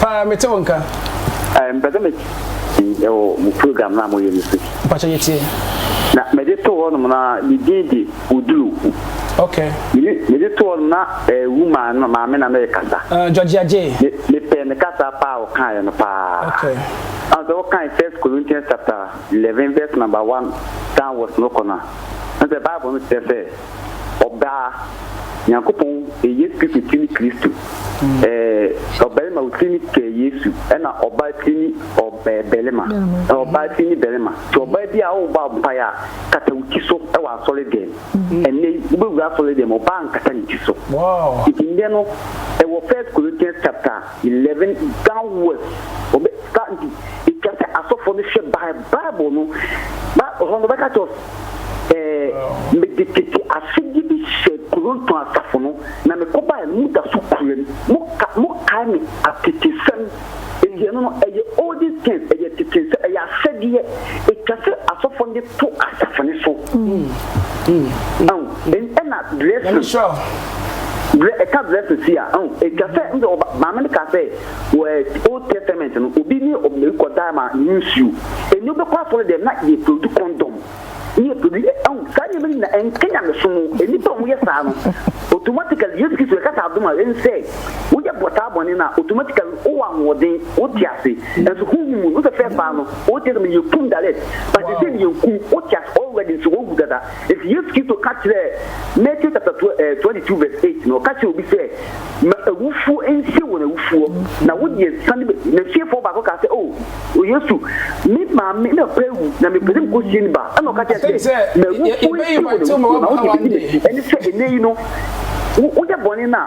Paa me te wo nka. Eh, mpɛ sɛ mɛti ɛwɔ eh, mo program no a moyɛ no so. Mpakyɛ yɛtie. Na mede to hɔ nom na ne din de Odulu. Ok. Mede to hɔ nom na eh, wuma no maame na merekasa. Uh, eh, Georgia J. Mepɛ ne kasa paa ɔkaeɛ no paa. Ok. Ɛna sɛ wokae First Corinthians chapter eleven verse number one downwards no kɔ no a, ɛna sɛ Bible no kyerɛ sɛ ɔbaa Nyankopɔn eyɛ Kristo tiri ne Kristo eh ɔbarima wo tiri ne kɛ Yesu ɛna ɔbaa tiri ne ɔbɛɛ bɛrima na ɔbaa tiri ne bɛrima ti ɔbaa bi a wo bɔ ampae a kata wo ti so ɛwɔ asɔre dɛm ɛnɛ yi wo bɛ wura asɔre dɛm ɔbaa nkata ne ti so nti ndɛ no ɛwɔ first Corinthians chapter 11 downwards, wɔbɛ ka nti etwa sɛ asɔfo no hwɛ Bi Bible no, ba hɔ no wɔbɛka kyerɛ sɛ ɛɛ mede tete asodi bi hyɛ Koronto asafo no na mekɔbae no, moda so kura mu, mo ka mo kae me atetesɛm, enti ɛno no ɛyɛ olden things, ɛyɛ tetesɛm, ɛyɛ asɛdeɛ etwa sɛ asɔfo no de to asafo no so. ahu ɛna dress ɛka dress si a ahu ɛtwa sɛ ɛna ɔba maame no ka sɛ wɔ old testament no obi ne ɔbɛn kɔdaa ma ne nsuo ɛni ɔbɛkɔ asɔre dɛm na yɛ produce condom ne yɛ produce ahu saa nneɛma no nyina ɛnka nyamesom nnipa a wɔyɛ saa no automatically yesu kristo ɛka saa adom a ɛnsɛ woyɛ bɔ saa bɔne no a automatically wowɔ ahoɔden wo te ase nso honhom mu no sɛ fɛ faa no wo te ase no yɛ kum direct but wow. sɛ yɛ nkum wo te ase already nso wɔwu dada nti Yesu Kristo ka kyerɛ Matthew chapter 22 eh, verse 8 no ɔka kyerɛ obi sɛ ma awufuo nsie wɔn awufuo na wo deɛ sane na fiefoɔ baako ka sɛ oh, o Yesu me maame na pɛ awu na mepɛ sɛ mekɔ sie ne ba ɛna ɔka kyerɛ sɛ ma awufuo nsie wɔn awufuo na wo deɛ ɛne sɛ ɛnɛ yi no woyɛ bɔne no a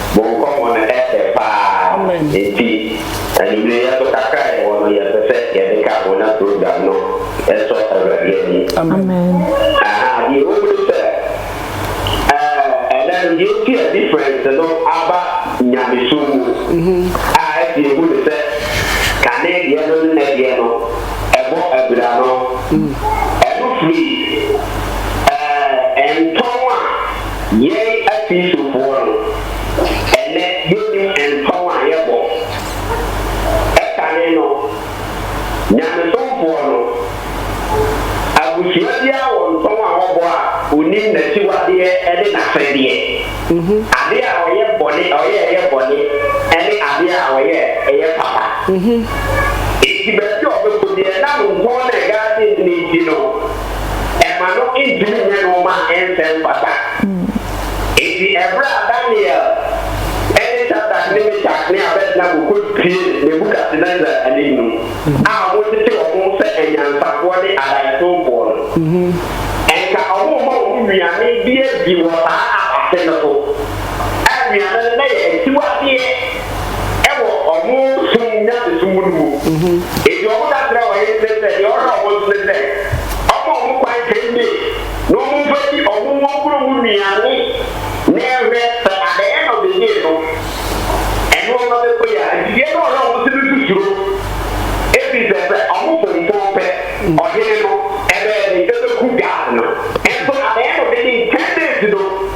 Mo nkɔmmɔ no ɛfɛ paa enti anwumerɛ yɛto kakra a yɛwɔ no yɛpɛ sɛ yɛde ka ho na program no ɛsɔ Awurade ani. Aha deɛ ɛwɔ mu ne sɛ eh ɛnɛ no deɛ nti a difference no aba nyamesom mu a ɛte yɛhu ne sɛ kane deɛ no ne nɛ deɛ no ɛbɔ abira no ɛno firi eh ntɔn a Yɛn Akristofoɔ no, ɛnnɛ yɛnnim ntɔn a yɛbɔ. Ɛkane no, nyamesomfoɔ no, abusua biara wɔ ntɔn a wɔbɔ a ɔnim n'akyiwadeɛ ne n'asɛdeɛ, adeɛ a ɔyɛ bɔne, ɔyɛ a ɛyɛ bɔne ne adeɛ a ɔyɛ a ɛyɛ papa. Enti baabi a ɔbɛkɔ biara, ɛnam ntɔn no a ɛdaa adi no nti no, ɛma no ntumi nyɛ nneɛma a ɛnsɛ mfata. Enti bere a Daniel ne Sadrach ne Mesak ne Abednego kotiee Nebukadnesar anim no, a wɔtete wɔn ho sɛ anyansafoɔ ne adaeɛsomfoɔ no, anka wɔremma wɔn nnuane bi adi wɔ saa asase no so, a nnuane no na ɛyɛ akyiwadeɛ. wɔ ɔno som mu nyamesom mu no mu. Enti wɔn daserɛ a wɔyɛ no ne sɛ, deɛ ɔwɔ no a wɔbɔ nso ne sɛ, wɔmma wɔn kwan ten days na wɔmfa nni wɔn wɔn kuro mu nnuane na ɛhwɛ sɛ adɛeɛ na ɔbɛnyee no. Ɛno ɔma bɛkɔ yi a, enti deɛ na ɔwɔ no a wɔn nso ne nso suro ɛfiri sɛ sɛ wɔn fomfɔn pɛ ɔhene no ɛbɛyɛ den ɛbɛku guard no nso adɛeɛ na ɔbɛnyee ten days no.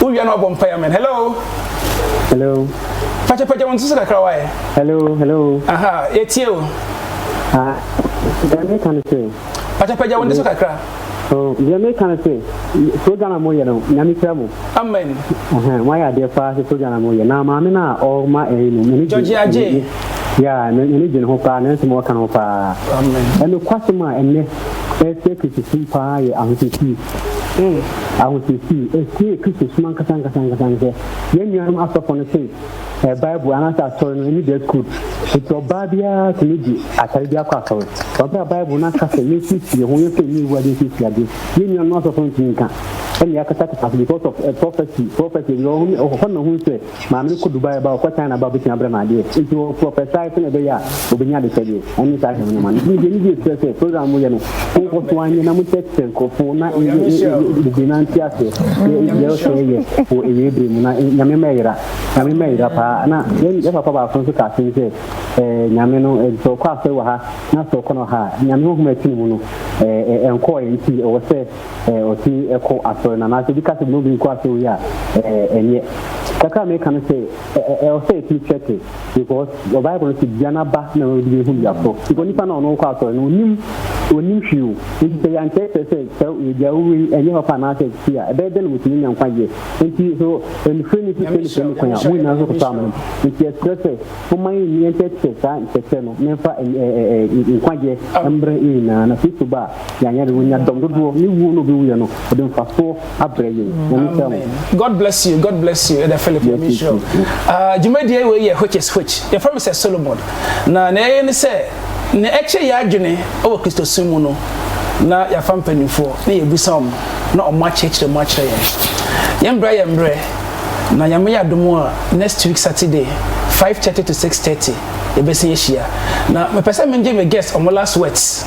wowia na wabɔ mpaeɛ amen hello hello pakyapagya wo nso so kakra waɛ hello hello aha yɛtie o ah, deɛ meka no sɛ pakyapagya wo nso so kakra oh, deɛ meka no sɛ program a moyɛ no nyame kyerɛ mo amen moayɛ adeɛ paa sɛ program a moyɛ na maame no a ɔma ɛyi no mene gyɔgye ya na ne gye ne ho paa nanso ma ɔka no ho paa ɛno kwasɛm a ɛnɛ ɛrekyerɛ Kristosom paa yɛ ahosiesie. Ee, ahosiesie. Ɛsie yɛ Kristosom ankasa ankasa ankasa ne sɛ yɛn nuanom asɔfo no te Bible anaasɛ asɔre no ani dress code. Enti ɔbaa biara tumi de atare bi akɔ asɔre. Wɔ bere a Bible no aka sɛ yensiesie yɛn ho, yɛmfa yɛn nnwiriwii ade nsiesie ade, yɛn nuanom asɔfo no ntumi nka, ɛnna yɛakatakata so because of prophecy, prophecy, ɛhɔ na ohuu sɛ, Maame no kɔ Dubai ba, ɔkɔ China ba, obetumi abrɛ me adeɛ. Nti ɔfo ɔpɛ saa sɛnea ɛbɛyɛ a obenya adekyɛdeɛ. Ɛne saa hwɛ ho nneɛma no. Nti deɛ nigye kyerɛ sɛ program mo yɛ no, mo nkɔ so anyɛ na mo kyerɛkyerɛ nkorɔfo na yɛ yɛ yɛ bebree na nte aseɛ sɛ deɛ ɛwɔ sɛ yɛyɛ wɔ awie bere mu na Nyame mma ɛyera. Nyame mma ɛyera paa. Na yɛn yɛn papa baako nso ka asem sɛ ɛɛ Nyame no ɛɛ sɛ ɔkɔ asɔre wɔ ha na sɛ ɔkɔ no ha a Nyame honhom a ɛte ne mu no ɛɛ ɛnkɔɔɛ nti ɔwɔ sɛ eh, ɔsi ɛkɔ asɔre na anaasɛ obi ka sɛ obi nkɔ asɔre yi a eh, ɛnyɛ kakra a meka no sɛ ɛwɔ sɛ ɛtumi kyɛke because the bible no sɛ dua no aba na wɔde bɛhu duaforɔ because nipa na ɔno kɔ asɔre no ɔnim ɔnim hwee o nti sɛ yɛankyerɛkyerɛ sɛ sɛ dua wowei ɛnyɛ papa anaasɛ ti a ɛbɛyɛ dɛ na wɔtumi nya nkwa yɛ nti so ɛnifire ne sisɛ ne sɛ ne kwan a mo nyinaa nso kɔtɔ amena nti ɛserɛ sɛ moma yɛ nni ɛnkyɛkyerɛ saa nkyɛkyerɛ no memfa nkwagyeɛ mmerɛ nyinaa na kristo ba a Yɛanyɛ de, wɔnya dɔm dodoɔ ne wuo no ɔbɛwuiɛ no, ɔde mfasoɔ abrɛ yɛn. Nyame nhyira mo. God bless you, God bless you, Ɛda Philip, Nyame nhyira wo. Ah, dwumadie wei yɛ which is which. Yɛfrɛ me sɛ Solomon. Na nea ɛyɛ ne sɛ, nea ɛkyerɛ yɛ adwene wɔ Kristosom mu no, na yɛafa mpanimfoɔ na yɛbisa wɔn na wɔn akyerɛkyerɛ mu akyerɛ yɛn. Yɛn mbrɛ yɛ mbrɛ, na Nyame yɛ adom a, next week Saturday, 5:30 to 6:30, yɛbɛsan ahyia. Na mepɛ sɛ mengye me guest wɔn last words.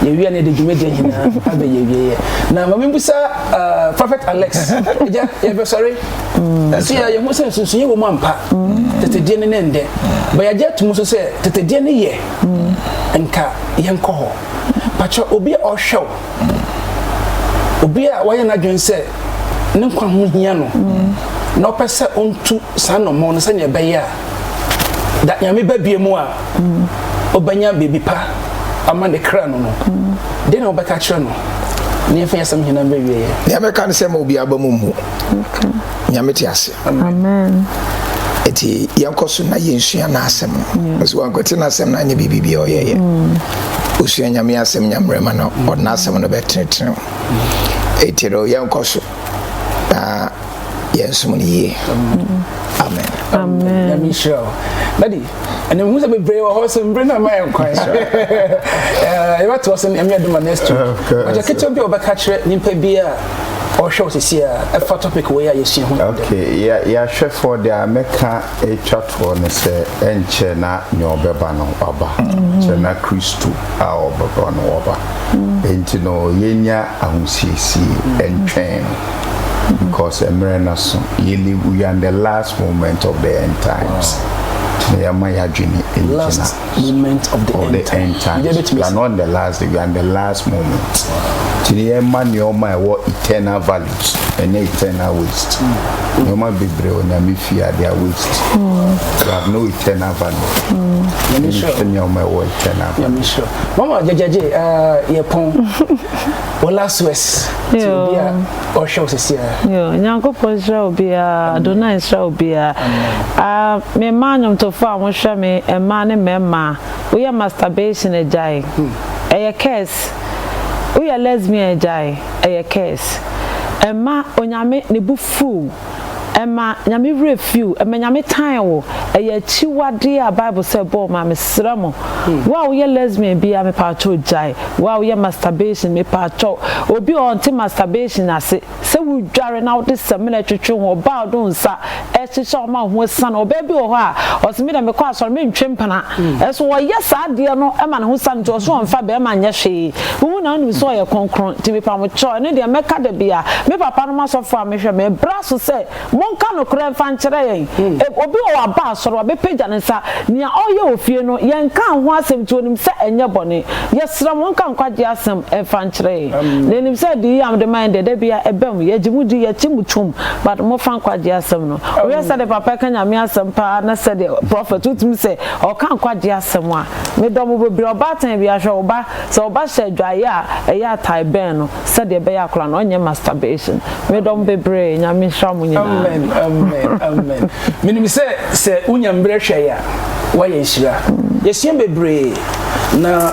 yɛwie na yɛde dwumadie nyinaa abɛyɛ awieɛ na ma membusa uh, prophet alex agya yɛbɛsɔre mm. ɛso yɛ yɛho sɛ nsunsuyɛ wɔ mu ampa mm. tetedeɛ no ne ndɛ ba yɛagye ato mu so sɛ tetedeɛ no yɛ mm. nka yɛnkɔ hɔ pakyɛ obi a ɔhwɛ wo obi a wayɛ n'adwene sɛ ne nkwa ho hia no na ɔpɛ sɛ ɔntu saa nnɔmmɔn no sɛnea ɛbɛyɛ a da nyame ba bie mu a ɔbɛnya baabi pa ama ne kra no no, dɛn na wobɛka kyerɛ no? ne yɛmfa yɛsɛm nyina mbɛ wieɛ nea mɛka ne sɛ ma obi aba mu mmu nyame te ase nti yɛnkɔ so na yɛnsua n'asɛm ɛsɛ mm. wankɔte n'asɛm no anyɛ biribibia ɔyɛyɛ mm. osua nyame asɛm nyammerɛ ma no ɔde n'asɛm no bɛtenetene ɛti no yɛnkɔ so na yɛn som no yie amen. amen. nyame nhyira o dadi ɛnna ehu sɛ bebree wɔ hɔ so mbere na ɛma yɛn kwan so ɛbɛto ɔsɛ ɛmi ɛdoma next week ɔjɛ ketewa bi a ɔbɛka kyerɛ nipa bi a ɔhwɛ wɔ sisi a ɛfa topic wɔ yɛ a yɛsua ho. okay yɛahwɛfoɔ deɛ a mɛka atwa Fɔ no sɛ ɛnkyɛ na nea ɔbɛba no aba kyɛ na Kristo a ɔbɛba no ɔba enti no yɛnya ahosiesie ɛntwɛn no because ɛmerɛ no so yɛ live we are in the last moment of the end times nti no yɛma yɛadwene ɛngyina moment of the, of end, the time. end time. We are not in the last day, we are in the last moment. Ti ni yɛn ma nneɛma a ɛwɔ eternal values ɛnyɛ eternal waste. Hmm. Nneɛma bebree wɔ nyame fi a they are waste. Hmm. They have no eternal value. Hmm. Yɛn ni sure. Nneɛma ɛwɔ eternal value. Yɛn ni sure. Mama jẹjẹjẹ yɛ pɔn. Wọ́n last words. Ti o bi a. ɔhwɛ wo sisi a. Yo, Nyankopɔn nhyira obiara, Adonai nhyira obiara. Ah, me mmaa nnwomtofo a mohwɛ me, mmaa ne mmarima, woyɛ masturbation agyae. Ɛyɛ curse. Woyɛ lesbian agyae, ɛyɛ curse. Ɛmma Onyame ne bo fuw. ɛma Nyame werɛ fi wo, ɛma Nyame tan wo, ɛyɛ akyiwadeɛ a Bible sɛ ɛbɔ wo ma mesrɛ mo, wo a woyɛ lesbian biara mepaakyɛw gyae, wo a woyɛ masturbation mepaakyɛw, obi a ɔnte masturbation ase, sɛ wo dware na wode samina twetwe ho, ɔbaa a ɔde wo nsa ɛhyehyɛ wo ma wo ho asiane, ɔbaa bi wɔ hɔ a ɔse medeɛ mekɔ asɔre mentwe mpena, ɛso ɔyɛ saa adeɛ no ma ne ho sane nti ɔse ɔnfa bɛɛma nyɛ hwee, Wo mu na wonim sɛ ɔyɛ kronkron, nti mepamokyɛw, ɛno deɛ mɛka da biara. Me papanom asɔfoɔ a mehwɛ, mebra so sɛ, monka nokorɛ mfa nkyerɛ yɛn. Eb, obi wɔ hɔ a, ba asɔre, wabɛpagya ne nsa, nea ɔreyɛ wɔ fie no, yɛnkaa ho asɛm nti onim sɛ ɛnyɛ bɔne. Yɛsrɛ mo, monka nkwagyeɛ asɛm mfa nkyerɛ yɛn. Na yɛnim sɛ adiyie a mode ma yɛn deɛ, da biara ɛba mu, yɛgye mo di, yɛte mo tom, but mofa nkwagyeɛ asɛm no. Wohwɛ sɛdeɛ papa ɛka Nyame asɛm pa ara, na sɛdeɛ prophet, wotumi sɛ ɔreka nkwagyeɛ asɛm a. Me dɔ mo bebree. Ɔbaatan bi ahwɛ wo ba. Sɛ wo ba hyɛ adwaeɛ a, ɛyɛ atae bɛn no sɛdeɛ ɛbɛyɛ akwadaa no ɔnyɛ masturbation. Me dɔ mo bebree. Nyame nhyira mo nyinaa. Amen amen amen menim sɛ sɛ wonya mbrɛ hwɛe a woayɛ nhyira. Yɛsua bebree na.